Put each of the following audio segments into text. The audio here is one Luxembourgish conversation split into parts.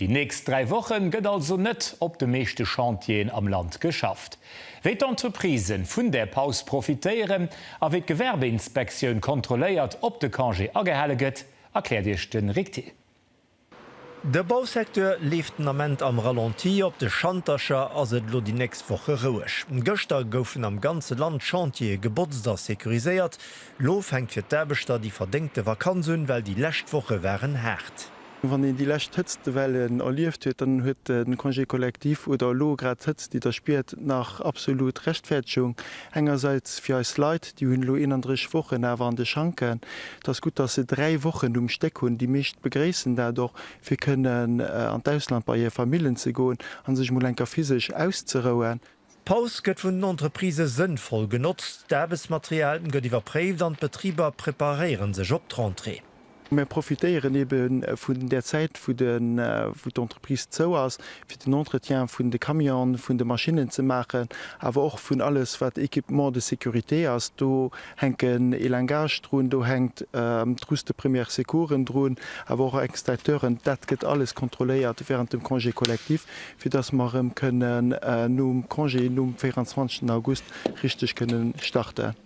Déi nächst dräi Woche gëtt also net op de meeschte Chantieren am Land geschafft. Wéi d'Entreprise vun där Paus profitéieren a wéi d'Gewerbeinspektioun kontrolléiert, ob de Congé agehale gëtt, erkläert Iech de Rik Thill. De Bausecteur leeft den Ament am Ralenti. Op de Schantercher ass et elo déi nächst Woche roueg. Gëschter goufen am ganze Land d'Chantiere gebotzt a securiséiert. Elo fänkt fir d'Aarbechter déi verdéngte Vakanz un, well déi lescht Woche waren haart. Wann een déi lescht Hëtztewellen erlieft huet, dann huet de Congé collectif oder elo grad d'Hëtzt, déi Der spiert, nach absolut Rechtfäerdegung. Engersäits fir eis Leit, déi hunn elo 31 Wochen awer an de Schanken. Et ass gutt, dass se dräi Wochen um Stéck hunn. Déi meescht begréissen dat och, fir kënnen an d'Ausland bei hir Famillen ze goen a sech emol enker physesch auszerouen. D'Paus gëtt vun den Entreprisë sënnvoll genotzt, d'Aarbechtsmaterial gëtt iwwerpréift an d'Betriber preparéiere sech op d'Rentrée. Mir profitéieren ebe vun där Zäit, wou d'Entreprise zou ass, fir den Entretien vun de Camionen, vun de Maschinnen ze maachen, awer och vun alles, wat Équipement de sécurité ass. Do hänken Elangage drun, do hänkt d'Trousse de première secoursen drun, awer och Extincteuren. Dat gëtt alles kontrolléiert während dem Congé collectif, fir dass mer erëm kënnen nom Congé, nom 24 August richteg kënnen starten.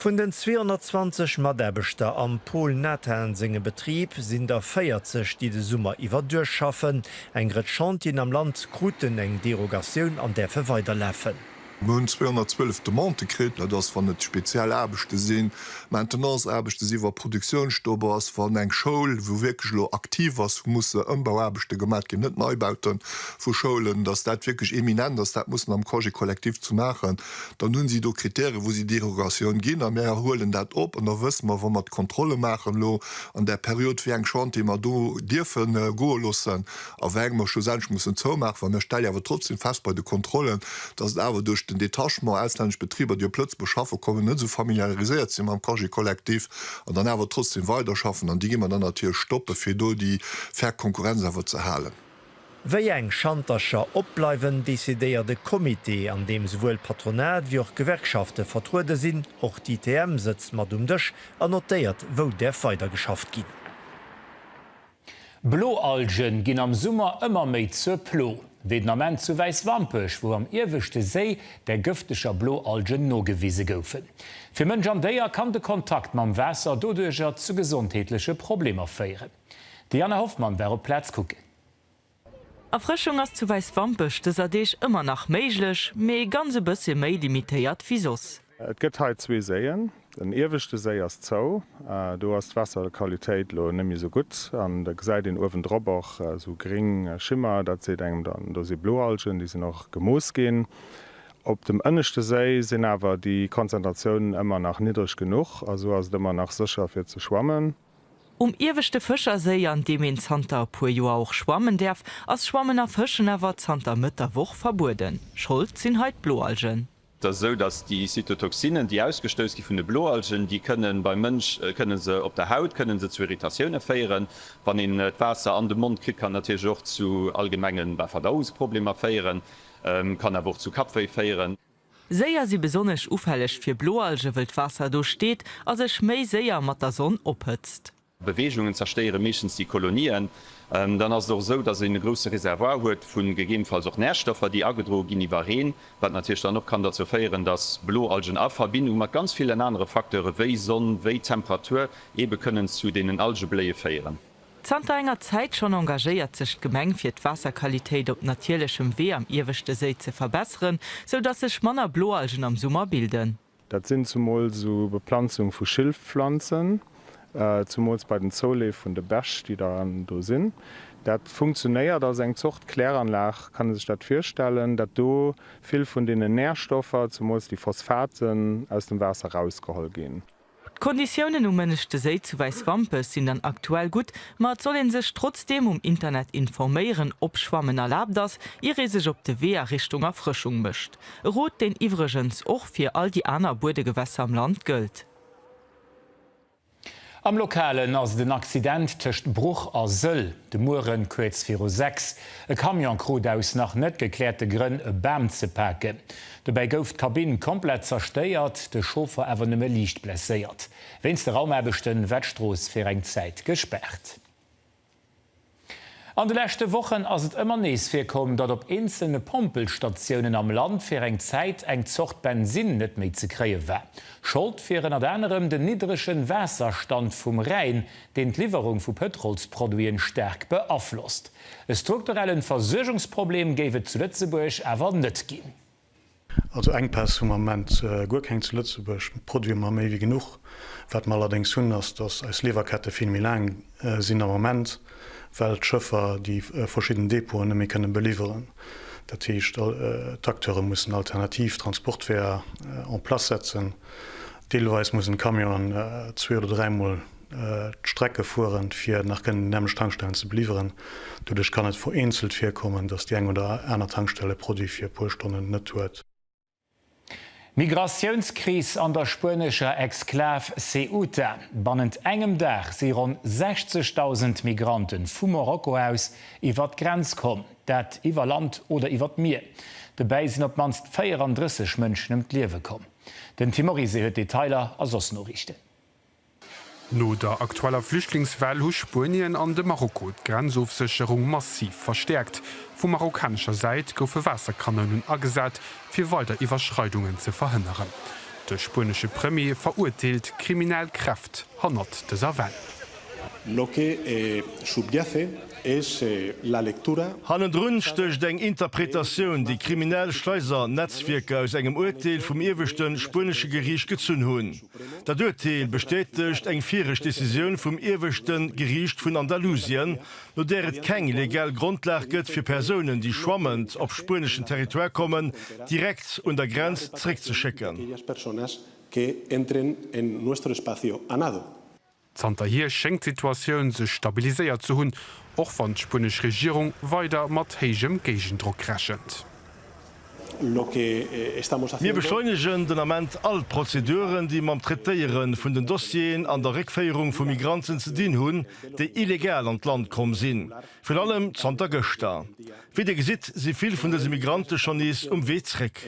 Vun den 220 Mataarbechter am Paul Nathan sengem Betrib sinn der 40, déi de Summer iwwer duerchschaffen. Eng Rëtsch Chantieren am Land kruten eng Derogatioun an däerfe weiderlafen. Mir hunn 212 Demandë kritt. Dat ass, wann et speziell Aarbechte sinn, Maintenance-Aarbechte sinn, wa Produktiounsstopp ass, wann eng Schoul, wou wierklech elo aktiv ass, hu musse Ëmbauaarbechte gemaach ginn, net Neibaute vu Schoulen, dass dat wierklech imminent ass, dat muss mam Congé collectif ze maachen. Dann hunn si do Krittäre wou si Derogatioun ginn a mir huelen dat op. An da wësse mer, wa mer d'Kontrolle maachen elo an där Period, wéi eng Chantiere mer do dierfe goe loossen. a weng mer schlussendlech mussen zoumaachen, well mir stelle awer trotzdem fest bei de Kontrollen, dass et awer duerch den Detachement, auslännesch Betriber, déi op Lëtzebuerg schaffen kommen, net esou familiariséiert sinn mam Congé collectif an dann awer trotzdem weiderschaffen. An déi gi mer dann natierlech stoppen, fir do déi fair Konkurrenz awer ze halen. Wéi eng Schantercher opbleiwen, decidéiert e Comité, an deem souwuel d'Patronat wéi och d'Gewerkschafte vertruede sinn. Och d'ITM sëtzt mat um Dësch an notéiert, wou däerf weidergeschafft ginn. Bloalgen ginn am Summer ëmmer méi zur Plo, wéi den Ament zu Wäiswampech, wou am ieweschte Séi der gëfteger Bloalgen nogewise goufen. Fir Mënsch an Déier kann de Kontakt mam Waasser doduercher zu gesondheetleche Problemer féieren. D'Diana Hoffmann war op d'Plaz kucken. Erfrëschung ass zu Wäiswampech dëser Deeg ëmmer nach méiglech, mee ganz e bëssche méi limitéiert wéi soss. Et gëtt hei zwee Séien. Den ieweschte Séi ass zou, do ass d'Waasserqualitéit elo net méi esou gutt an da gesäit een uewendrop och esou gréng Schimmer, dat seet engem dann, do si Bloalgen, déi sinn och gemooss ginn. Op dem ënneschte Séi sinn awer déi Konzentratiounen ëmmer nach niddreg genuch a sou ass et ëmmer nach sécher fir ze schwammen. Um ieweschte Fëscherséi, an deem een zanter e puer Joer och schwammen däerf, ass Schwammen a Fëschen awer zanter Mëtt der Woch verbueden. Schold sinn hei d'Bloalgen. Et ass esou, datt déi Zytotoxinen, déi ausgestouss gi vun de Bloalgen, déi kënne beim Mënsch, kënne se op der Haut, kënne se zu Irritatioune féieren. Wann een d'Waasser an de Mond kritt, kann natierlech och zu allgemenge Verdauungsproblemer féieren, kann awer och zu Kappwéi féieren. Séier si besonnesch ufälleg fir Bloalge wëll d'Waasser do steet a sech méi séier mat der Sonn ophëtzt. Beweegungen zerstéiere meeschtens déi Kolonien. Dann ass et och esou, datt een e grousse Reservoir huet vu gegebenfalls och Närstoffer, déi agedroe ginn iwwer Reen, wat natierlech dann och kann derzou féieren, datt Bloalgen a Verbindung mat ganz villen anere Facteure wéi Sonn, wéi Temperatur ebe kënnen zu deenen Algebléie féieren. Zanter enger Zäit schonn engagéiert sech d'Gemeng fir d'Waasserqualitéit op natierlechem Wee am ieweschte Séi ze verbesseren, sou datt sech manner Bloalgen am Summer bilden. Dat sinn zemools u Beplanzung vu Schilfpflanzen, zemools bei den Zouleef vun de Bech, déi da do sinn. Dat funktionéiert als eng Zort Kläranlag, kann ee sech dat virstellen, datt do vill vun deenen Närstoffer, zemools déi Phosphaten, aus dem Waasser rausgeholl ginn. D'Konditiounen um Mënneschte Séi zu Wäiswampech sinn dann aktuell gutt, ma et soll ee sech trotzdeem um Internet informéieren, ob Schwammen erlaabt ass, ier ee sech op de Wee a Richtung Erfrëschung mécht. E Rot, deen iwwregens och fir all déi aner Buedegewässer am Land gëllt. Am Lokalen ass et en Accident tëscht Bruch a Sëll de Muere kuerz viru 6. E Camion krut aus nach net gekläerte Grënn e Bam ze paken. Dobäi gouf d'Kabinn komplett zerstéiert, de Chauffer awer nëmme liicht blesséiert. Wéinst de Raumaarbechte war d'Strooss fir eng Zäit gespaart. An de leschte Wochen ass et ëmmer nees virkomm, datt op eenzelne Pompelstatiounen am Land fir eng Zäit eng Zort Bensin net méi ze kréie war. Schold wier ënnert anerem den niddregen Waasserstand vum Rhäin, deen d'Liwwerung vu Pëtrolsproduiten staark beaflosst. E strukturellen Versuergungsproblem géif et zu Lëtzebuerg awer net ginn. Also Enkpäss hu mer am Moment guer keng zu Lëtzebuerg, Produit hu mer méi wéi genuch. Wat mer allerdéngs hunn ass, dass eis Liwwerkette vill méi laang sinn am Moment, well d'Schëffer déi verschidden Depoten net méi kënne beliwweren. Dat heescht d'Acteure mussen alternativ Transportweeër en place setzen, Deelweis mussen d'Camionen zwee oder dräi Mol d'Strecke fueren, fir nach kënnen déi nämmlecht Tankstellen ze beliwweren. Doduerch kann et vereenzelt virkommen, datt déi eng oder aner Tankstell e Produit fir e puer Stonnen net huet. Migratiounskris an der spuenescher Exklav Ceuta, Bannent engem Dag si ronn 60.000 Migrante vu Marokko aus iwwer d'Grenz komm, dat iwwer Land oder iwwer d'Mier. Dobäi sinn op d'mannst 34 Mënschen ëm d'Liewe komm. Den Tim Oryse huet Detailer a soss Noriichten. No der aktueller Flüchtlingswell hu Spuenien an de Marokko d'Grenzofsécherung massiv verstäerkt. Vu marokkanescher Säit goufe Waasserkanounen agesat, fir weider Iwwerschreidungen ze verhënneren. De spuenesche Premier verurteelt d'kriminell Kräft hannert dëser Well. Lo que subyace es la lectura. Hannendrun stécht eng Interpretatioun, déi kriminell Schleisernetzwierker aus engem Uerteel vum ieweschte spuenesche Geriicht gezunn hunn. Dat Uerteel bestätegt eng viregt Decisioun vum ieweschte Geriicht vun Andalusien, no där et keng legal Grondlag gëtt, fir Persounen, déi schwammend op spueneschen Territoire kommen, direkt un der Grenz zréckzeschécken. Zanterhier schéngt d'Situatioun sech stabiliséiert ze hunn, och wann d'spuenesch Regierung weider mat héijem Géigendrock rechent. Mir beschleunegen den Ament all d'Prozeduren, déi mam Traitéiere vun den Dossieren an der Réckféierung vu Migranten ze dinn hunn, déi illegal an d'Land komm sinn, virun allem zanter gëschter. Wéi Dir gesitt, si vill vun dëse Migrante schonn nees um Wee zréck.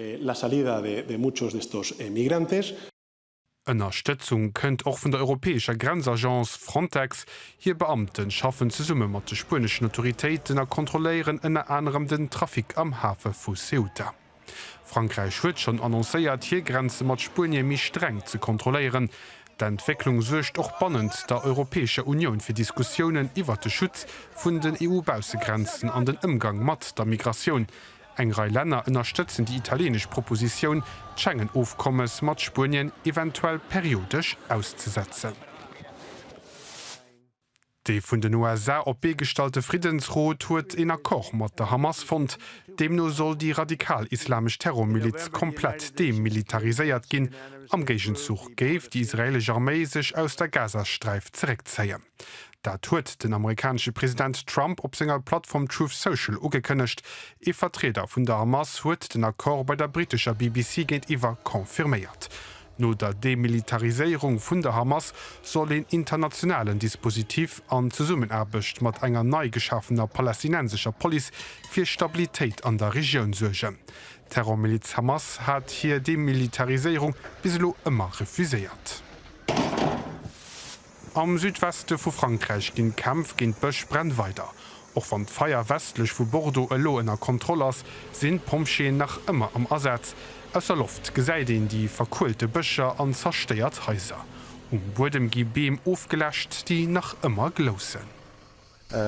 Ënnerstëtzung kënnt och vun der europäescher Grenzagence Frontex. Hir Beamte schaffen zesumme mat de spueneschen Autoritéiten a kontrolléieren ënner anerem den Trafic am Hafe vu Ceuta. Frankräich huet schonn annoncéiert, hir Grenze mat Spuenie méi streng ze kontrolléieren. D'Entwécklung suergt och bannent der Europäescher Unioun fir Diskussiounen iwwert de Schutz vun den EU-Baussegrenzen an den Ëmgang mat der Migratioun. Eng Rei Länner ënnerstëtzen déi italieenesch Propositioun, d'Schengen-Ofkommes mat Spuenien eventuell periodesch auszesetzen. Dee vun den USA op d'Bee gestallte Friddensrot huet een Accord mat der Hamas fonnt. Deemno soll déi radikal-islamesch Terrormiliz komplett demilitariséiert ginn. Am Géigenzuch géif déi israeelesch Arméi sech aus der Gazasträif zeréckzéien. Dat huet den amerikanesche President Trump op senger Plattform Truth Social ugekënnegt. Ee Vertrieder vun der Hamas huet den Accord bei der brittescher BBC géintiwwer confirméiert. No der Demilitariséierung vun der Hamas soll een internationalen Dispositif an Zesummenaarbecht mat enger nei geschafener palästinensescher Police fir Stabilitéit an der Regioun suergen. D'Terrormiliz Hamas hat hir Demilitariséierung bis elo ëmmer refuséiert. Am Südweste vu Frankräich ginn d'Kämpf géint d'Bëschbränn weider. Och wann d'Feier westlech vu Bordeaux elo ënner Kontroll ass, sinn d'Pompjeeën nach ëmmer am Asaz. Aus der Loft gesäit een déi verkuelte Bëscher an zerstéiert Haiser. Um Buedem gi Beem ofgeläscht, déi nach ëmmer gloussen.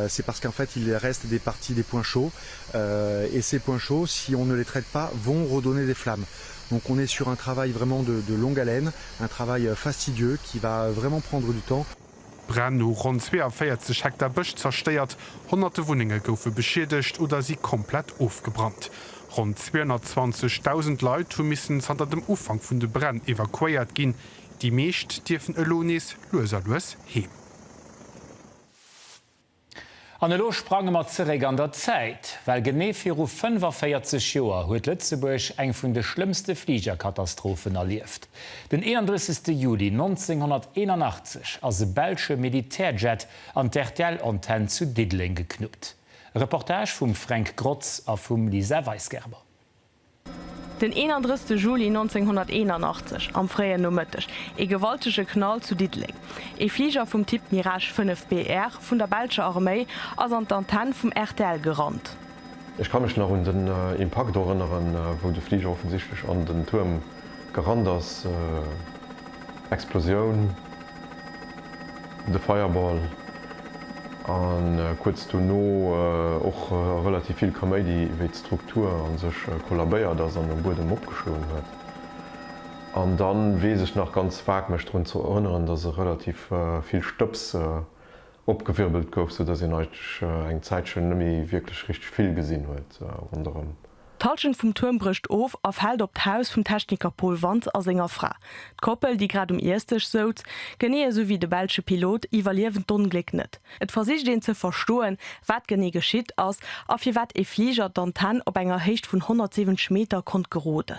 C'est parce qu'en fait il reste des parties des points chauds et ces points chauds si on ne les traite pas vont redonner des flammes. Donc on est sur un travail vraiment de de longue haleine, un travail fastidieux qui va vraiment prendre du temps. Bränn hu ronn 42 Hektar Bësch zerstéiert, honnerte Wunnenge goufe beschiedegt oder si komplett ofgebrannt. Ronn 220.000 Leit hu missen zanter dem Ufank vun de Bränn evakuéiert ginn. Déi meescht dierfen elo nees lues a lues heem. An elo sprange mer zeréck an der Zäit, well genee viru 45 Joer huet Lëtzebuerg eng vun de schlëmmste Fligerkatastrophen erlieft. Den 31. Juli 1981 ass e belsche Militärjet an d'RTL-Antenn zu Diddeleng geknuppt. E Reportage vum Fränk Grotz a vum Lisa Weisgerber. Den 31 Juli 1981 am fréien Nomëtteg ee gewaltege Knall zu Diddeleng. Ee Fliger vum Typ Mirage 5 BR vun der belscher Arméi ass an d'Antenne vum rtl gerannt. Ech ka mech nach un den Impakt erënneren, wou de Fliger offensichtlech an den Tuerm Garant ass Explosioun, de Fei'erball a kuerz dono och relativ vill Kaméidi, wéi d'Struktur a sech kollabéiert ass an um Buedem opgeschloen huet. An da weess ech nach ganz vag mech drun ze erënneren, dass e relativ vill Stëbs opgewirbelt gouf, soudass een eigentlech eng Zäitchen net méi wierklech richteg vill gesinn huet ronderëm. D'Halschent vum Tuerm brécht of a fält op d'Haus vum Techniker Paul Wantz a senger Fra. D'Koppel, déi grad um Iessdësch souz, genee esou wéi de belsche Pilot, iwwerliewen d'Ongléck net. Et versicht een ze verstoen, wat genee geschitt ass a firwat ee Fliger d'Antenn op enger Héicht vun 170 Meter konnt geroden.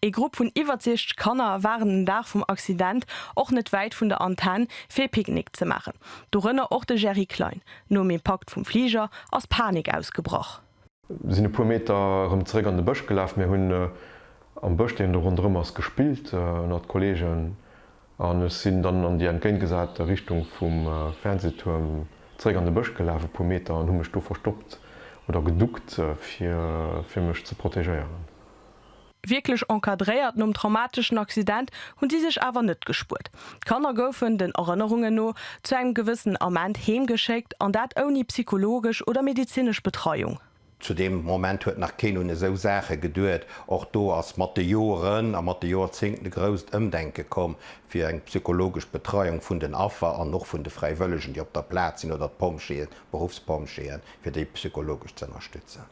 Ee Grupp vun iwwer 60 Kanner waren den Dag vum Accident och net wäit vun der Antenn fir ee Picknick ze maachen, dorënner och de Gerry Klein. Nom Impakt vum Fliger ass Panik ausgebrach. Mir sinn e puer Meter erëm zeréck an de Bësch gelaf. Mir hunn am Bësch, deen do ronderëm ass, gespillt ënnert d'Kolleegen an ech sinn dann an déi entgéintgesat Richtung vum Fernsehtuerm zeréck an de Bësch gelaf, e puer Meter, an hu mech do verstoppt oder geduckt, fir mech ze protegéieren. Wierklech encadréiert nom traumateschen Accident hunn si sech awer net gespuert. D'Kanner goufen, den Erënnerungen no, zu engem gewëssenen Ament heem geschéckt, an dat ouni psychologesch oder medezinesch Betreiung. Zu deem Moment huet nach keen un esou Saache geduet. Och do ass mat de Joren a mat de Jorzéngten e grousst Ëmdenke komm, fir eng psychologesch Betreiung vun den Affer an och vun de Fräiwëllegen, déi op der Plaz sinn, oder d'Pompjeeën, Beruffspompjeeën, fir déi psychologesch ze ënnerstëtzen.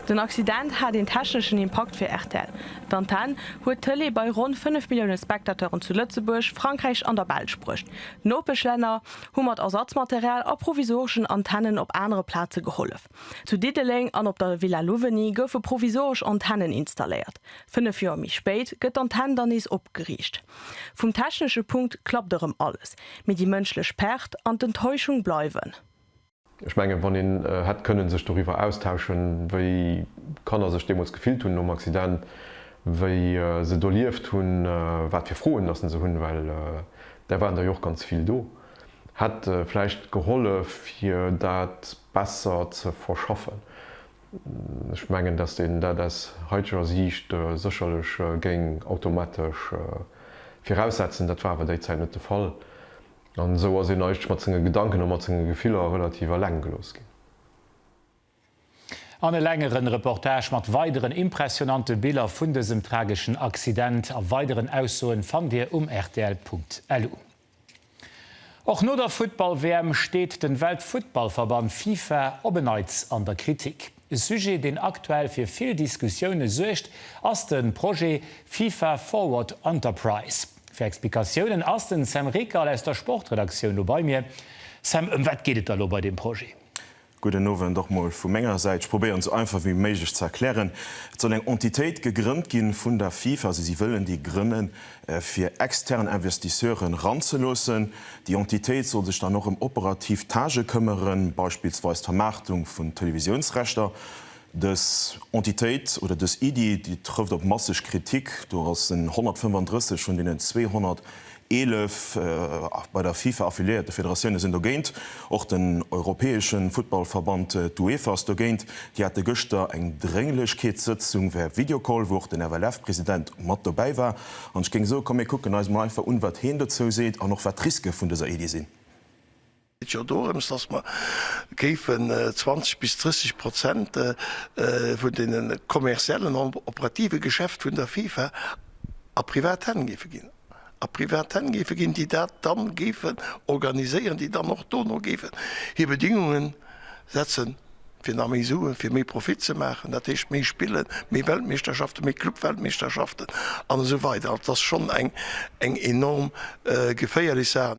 Den Accident hat een techneschen Impakt fir rtl. D'Antenn huet d'Tëlee bei ronn 5 Millioune Spectateuren zu Lëtzebuerg, Frankräich an der Belsch bruecht. Nopeschlänner hu mat Ersatzmaterial a provisoreschen Antennen op anere Plaze gehollef. Zu Diddeleng an op der Villa Louveny goufe provisoresch Antennen installéiert. Fënnef Joer méi spéit gëtt d'Antenn dann nees opgeriicht. Vum technesche Punkt klappt erëm alles, mee déi mënschlech Pert an d'Enttäuschung bleiwen. Ech mengen, wann een hätt kënnen sech doriwwer austauschen, wéi d'Kanner sech deemools gefillt hunn nom Accident, wéi se d'erlieft hunn, wat fir Froen datt se hunn, well där waren der jo och ganz vill do, hätt vläicht gehollef, fir dat besser ze verschaffen. Ech mengen, datt een dat aus haiteger Siicht sécherlech géing automatesch viraussetzen. Dat war awer déi Zäit net de Fall. An esou ass een eigentlech mat senge Gedanken a mat senge Gefiller relativ eleng gelooss ginn. An e längeren Reportage mat weideren impressionante Biller vun dësem trageschen Accident a weideren Aussoen fannt Dir um rtl.lu. Och no der Futtball-WM steet den Weltfuttballverband Fifa op en Neits an der Kritik. E Sujet deen aktuell fir vill Diskussioune suergt ass den Projet Fifa Forward Enterprise. Fir Explikatiounen ass den Sam Rickal aus der Sportredaktioun lo bei mir. Sam, ëm wat geet et da lo bei deem Projet? Gudden Owend och mol vu menger Säit. Ech probéieren esou einfach wéi méiglech ze erklären. Et soll eng Entitéit gegrënnt ginn vun der FIFA, also si wëllen déi grënnen fir extern Investisseuren ranzeloossen. Déi Entitéit soll sech dann och ëm operativ Tâche këmmeren, beispillsweis d'Vermaartung vun Televisiounsrechter. Dës Entitéit oder dës Iddi, déi trëfft op masseg Kritik. Do ass en 135 vun deenen 211 bei der FIFA affiliéierte Federatioune sinn dogéint. Och den europäesche Futtballverband, d'UEFA, ass dogéint. Déi hate gëschter eng Drénglechkeetssëtzung via Videocall, wou och den FLF-President mat dobäi war. An ech géing soe, komm mir kucken eis emol einfach un, wat heen dozou seet an och wat d'Riske vun dëser Iddi sinn. Et jo dorëms, dass mer géifen 20 bis 30 Prozent vun deene kommerziellen an operative Geschäft vun der FIFA a privat Hänn géife ginn, a privat Hänn géife ginn, déi dat dann géifen organiséieren, déi dann och dono géifen hir Bedingunge setzen, fir nach méi Suen, fir méi Profit ze maachen, dat heescht méi Spillen, méi Weltmeeschterschaften, méi Clubweltmeeschterschaften an esou weider. Also, et ass schonn eng enorm geféierlech Saach.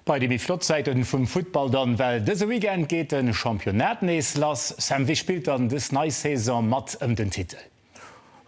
Bei de méi flott Säiten vum Futtball dann, well dëse Weekend geet den Championnat nees lass. Sam, wéi spillt dann des nei Saison mat ëm den Titel?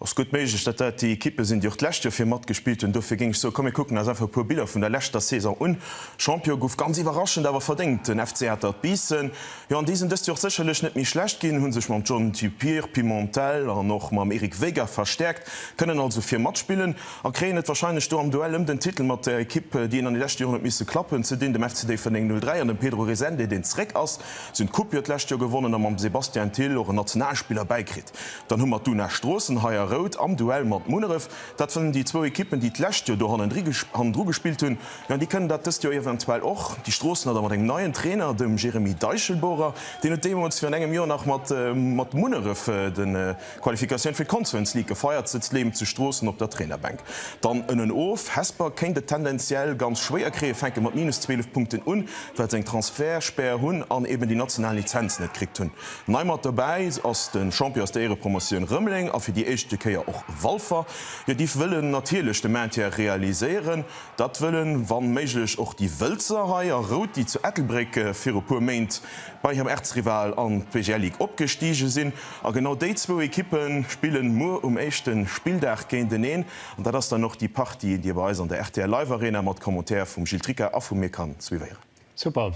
Ass gutt méiglech dat dat déi Equippen sinn déi och d'lescht Joer vir mat gespillt hunn. Dofir géing ech soe komm mir kucken eis einfach e puer Biller vun der leschter Saison un. Champion gouf ganz iwwerraschend awer verdéngt den FC Atert Biissen. Jo an déi sinn dëst Joer och sécherlech net méi schlecht ginn, hunn sech mam John Dupierre, Pimentel an och mam Eric Vega verstäerkt, kënnen also vir matspillen. A kréien et warscheinlech do am Duell ëm den Titel mat der Ekipp, déi een an de leschte Joren huet misse klappen. Zu deenen, dem FC Déifferdeng 03 an dem Pedro Resende, deen zeréck ass, sinn d'Coupe jo d'lescht Joer gewonnen a mam Sébastien Thill och en Nationalspiller bäikritt. Dann hu mer d'Una Stroossen hei a Rout am Duell mat Munneref. Dat sinn déi zwou Ekippen, déi d'lescht Joer do hannendru gespillt hunn. Jo, an déi kënnen dat dëst Joer eventuell och. Déi Stroossener da mat engem neien Trainer, dem Jérémy Deichelbohrer. Deen huet deemools virun engem Joer nach mat Munneref de. Qualifikatioun fir d'Conference League gefeiert, sëtzt Leem zu Stroossen op der Trainerbänk. Dann ënnen of, Hesper kéint et tendenziell ganz schwéier kréien, fänke mat minus 12 Punkten un, well se eng Transfertspär hunn an eben déi national Lizenz net kritt hunn. Nei mat dobäi ass de Champion aus der Éierepromotioun Rëmeleng a fir déi éischte Kéier och Walfer. Jo, déi wëllen natierlech de Maintien realiséieren. Dat wëllen, wann méiglech, och déi Wëlzer hei a Rout, déi zu Ettelbréck viru puer Méint bei hirem Erzrival an d'PGL League opgestigen sinn. A genau déi zwou Ekippe spille muer um éischte Spilldag géinteneen. An dat ass dann och déi Partie, déi Dir bei eis an der rtl Live Arena mat Commentaire vum Gilles Tricca a vum mir kann suivéieren. Super,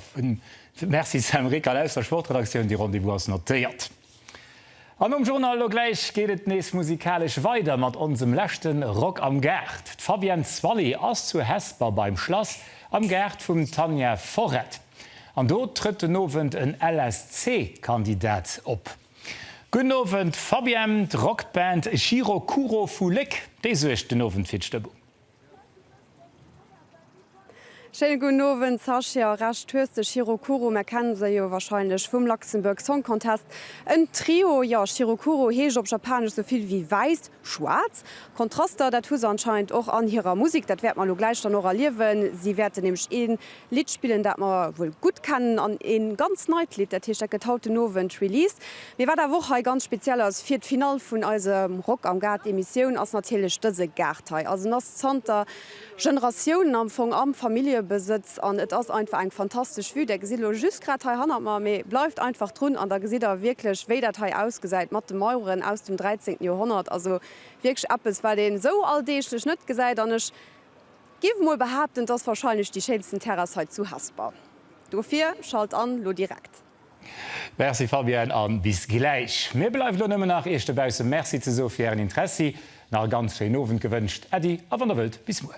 Merci Sam Rickal aus der Sportredaktioun. De Rendez-vous ass notéiert. An nom Journal elo gläich geet et nees musikalesch weider mat onsem leschte Rock am Gaart. D'Fabienne Zwally ass zu Hesper beim Schlass am Gaart vum Tanja Forret. An do trëtt den Owend en LSC-Kandidat op. Gudden Owend Fabienne, d'Rockband Chiro Kuro vu Léck, déi suergt den Owend fir d'Stëmmung. Schéine gudden Owend Sascha, Recht hues de, Chiro Kuro, mär kennen se jo wahrscheinlech vum Luxembourg Song Contest, en Trio. Jo, Chiro Kuro heescht op Japanesch sou vill wéi wäiss, schwaarz. Kontraster, dat hu se anscheinend och an hirer Musek, dat wäerte mer elo gläich dann och erliewen. Si wäerten nämlech ee Lidd spillen, dat mer wuel gutt kennen, an ee ganz neit Lidd. Dat heescht, dat gëtt haut den Owend released. Mee wat awer och hei ganz speziell ass fir d'Finall vun eisem Rock am Gaart Emissioun, ass natierlech dëse Gaart hei. Also en ass zanter Generatiounen am Fong am Familljebesëtz an et ass einfach eng fantastesch Vue. Der gesitt elo just grad hei hannert mer, mee bleift einfach drun an da gesitt der wierklech wéi dat hei ausgesäit mat de Maueren aus dem 13. Joerhonnert. Also wierklech eppes wat een esou alldeeglech net gesäit an ech. Giff mol behaapten d'ass wahrscheinlech déi schéinsten Terrass hei zu Hesper. Dofir schalt an lo direkt. Merci Fabienne an bis gläich. Mir bleift lo nëmmen nach iech dobaussen Merci ze soe fir ären Interessi. Nach e ganz schéinen Owend gewënscht. Äddi a wann der wëllt bis muer.